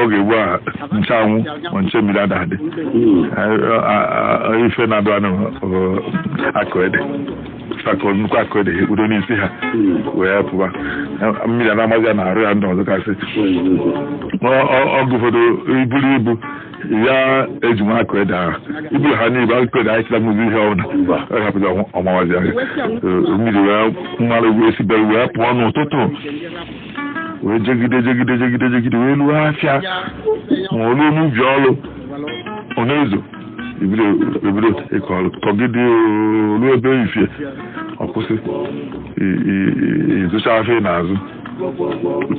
oge ugbu a nche anwụ ma nche mmiri ada adị ife na-adụ anụ bụ akwụkwọ ede akwụkwọ nnukwu akwụkwọ ede e kpudo n'isi ha wee pụba mmiri a na-amazi ya n'arụ ya ndị ọzọ kasị ọgụ ụfọdụ eburu ibu ya e ji nwa akwụkwọ ede ahụ iburu ha n'ibe akwụkwọ ede ahịchịla mụzi ihe ọbụla ọ hapụzi ọ mawazi ahụ mmiri wee malụ wee si be ya wee pụọ n'ụtụtụ wee jegide jegide jegide jegide wee luo afịa ma ọ luo n'ubi ọlụ ọ na-ezo ebido ebido ịkọ ọlụ kọgide o luo ebe efifie ọ kwụsị i- i- i- ị zụcha afịa ị na-azụ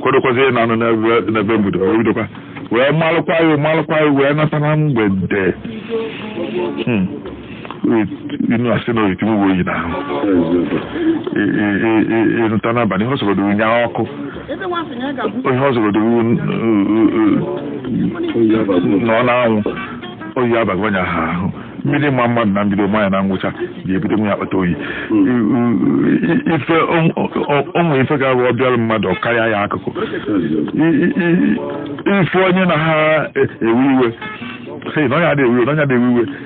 kwadokwazi ịna ụnọ n'ebe- n'ebe mgbede wee bidokwa wee malụkwa ya malụkwa ya wee nata na mgbede Hmm. inu asị na oyitinye uwe oyi n'ahụ ịzụta n'abalị ihe ọ sọgodoro nya ọkụ ihe ọ sọgodoro nọ n'anwụ oyi abago onye ahụ ahụ mmiri maa mmadụ na mbido maa ya na ngwụcha ga-ebido nwe ya akpata oyi ife o nwe ife ga-abụ ọ bịara mmadụ karịa ya akụkọ ife onye na ha ewe iwe sị na onye a adị ewe iwe na onye a adị ewe iwe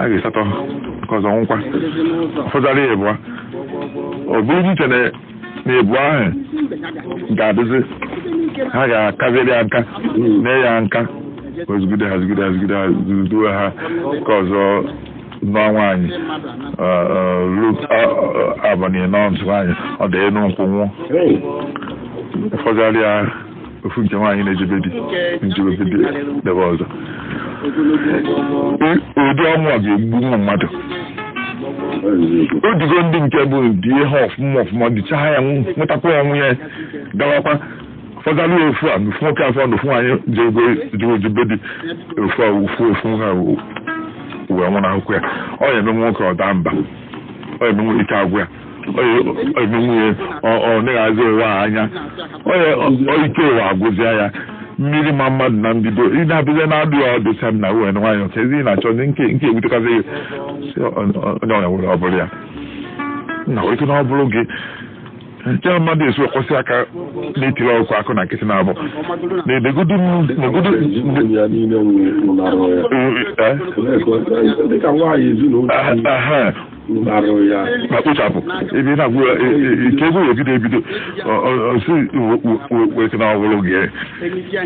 a ga-esatọ nke ọzọ nwụkwa fọdụrụ ya ịbụa ọ bụrụ e chee na na ịbụa ahụ ga-adịzi ha ga-akaziri ya nka na ya nka ọ zụgide ha zụgide ha zụgide ha zụduo ha nke ọzọ nụọ nwaanyị ruo abalị anọ ọ nụ nwaanyị ọ daa enu nkwụ nwụọ ọ fọdụ ya ofu nke nwaanyị na-ejebe di jebe di ebe ọzọ Ị- ụdị ọnwụ a ga-egbu ụmụ mmadụ o digo ndị nke bụ di ya ọfụma ọfụma dịcha ha ya nwụ- nwetakwa ya nwụ ya gawakwa fọdalụ ya ofu a na ofu nwoke afọ na ofu nwaanyị jego jebe di ofu a ofu ofu ha wee nwụrụ hapụkwa ya ọ ya eme nwoke ọ daa mba ọ ya eme nwoke ike agwụ ya eme nwunye ọ na-ahazi ụwa anya ike ụwa agwụzịa ya mmiri maa mmadụ na mbido ị na-abịazi na-adụ ya ọdụ sam na uwe nwaanyị nke ezi na-achọ nke nke ebutekazị onye ọnya nwere ọ bụrụ ya na ike na ọ bụrụ gị nke mmadụ esi ekwu sị aka na-etiri ọkụkọ akụ na nkịtị na-abụ na-edegodu ma kpochapụ ebe ị na-agwụ ya nke ego ya ebido ebido si weke na ọ bụrụ gị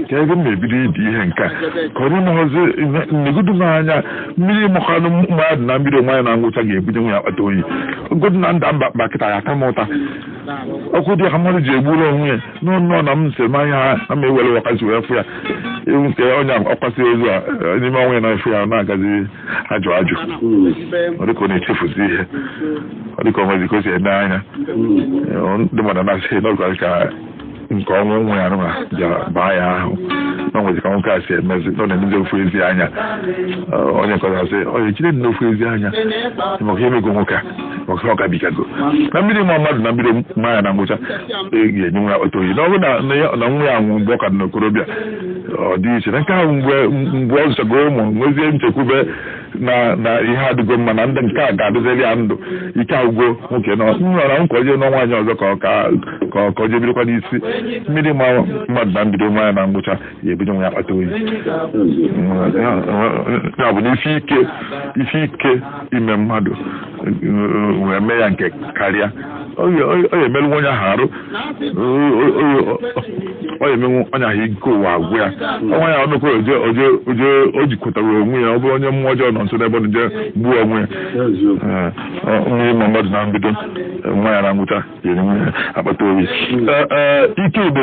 ka ebe m na-ebido idi ihe nke a ka onye mahazi negodu m anya mmiri makwanụ mmadụ na mbido maa ya na ngwụcha ga-ebido nyewe ya akpata oyi godu na nda mba mba kịta ya ata m ụta ọkụ dị ka mmadụ ji egburu onwe ya n'ọnụ na m nsị m anya ha ama ewere wakazi wee fụ ya ewu nke onye akwasị ozu a n'ime ọnwa ya na-efu ya na-agazi ajụ ajụ ọ dịka ọ na-echefuzi ihe ọ dịka o nwezi ka o si eme anya ndị mmadụ na-asị na ọ bụ ka nke ọnwụ nwa ya nwa bịara baa ya ahụ na o nwezi ka nwoke a si emezi na ọ na-emezi ofu ezi anya onye nke ọzọ sị onye jide na ofu ezi anya maka ihe mego nwoke a maka ọ gabigago na mmiri maa mmadụ na mbido maa ya na ngwụcha ga-enyewa ya akpata oyi na ọ bụrụ na nwa ya nwụ mgbe ọ ka dị n'okorobịa ọ dị iche na nke ahụ mgbe mgbe ọ zụchago ụmụ nwezie nchekwube na na ihe adịgo mma na ndị nke a ga-adịziri ya ndụ ike agwụgo nwoke nọ nrọra ka ọ jee nụọ nwaanyị ọzọ ka ọ ka ka ọ ka ọ jee bidokwa n'isi mmiri maa mmadụ na mbido maa ya na ngwụcha ya ebido nyewa ya akpata oyi ya bụ na isi ike isi ike ime mmadụ wee mee ya nke karịa ọ ya emerụwa onye ahụ arụ ọ ya emenwu onye ahụ ike ụwa agwụ ya ọnwa ya ọnụkọ oje oje oje o jikwatarọ onwe ya ọ bụrụ onye mmụọ ọjọọ nọ nso n'ebe ọ nọ jee gbuo onwe ya Ee, ọ- mmiri maa mmadụ na mbido maa ya na ngwụcha ya enyewa ya akpata oyi Ee, ee, ike igbo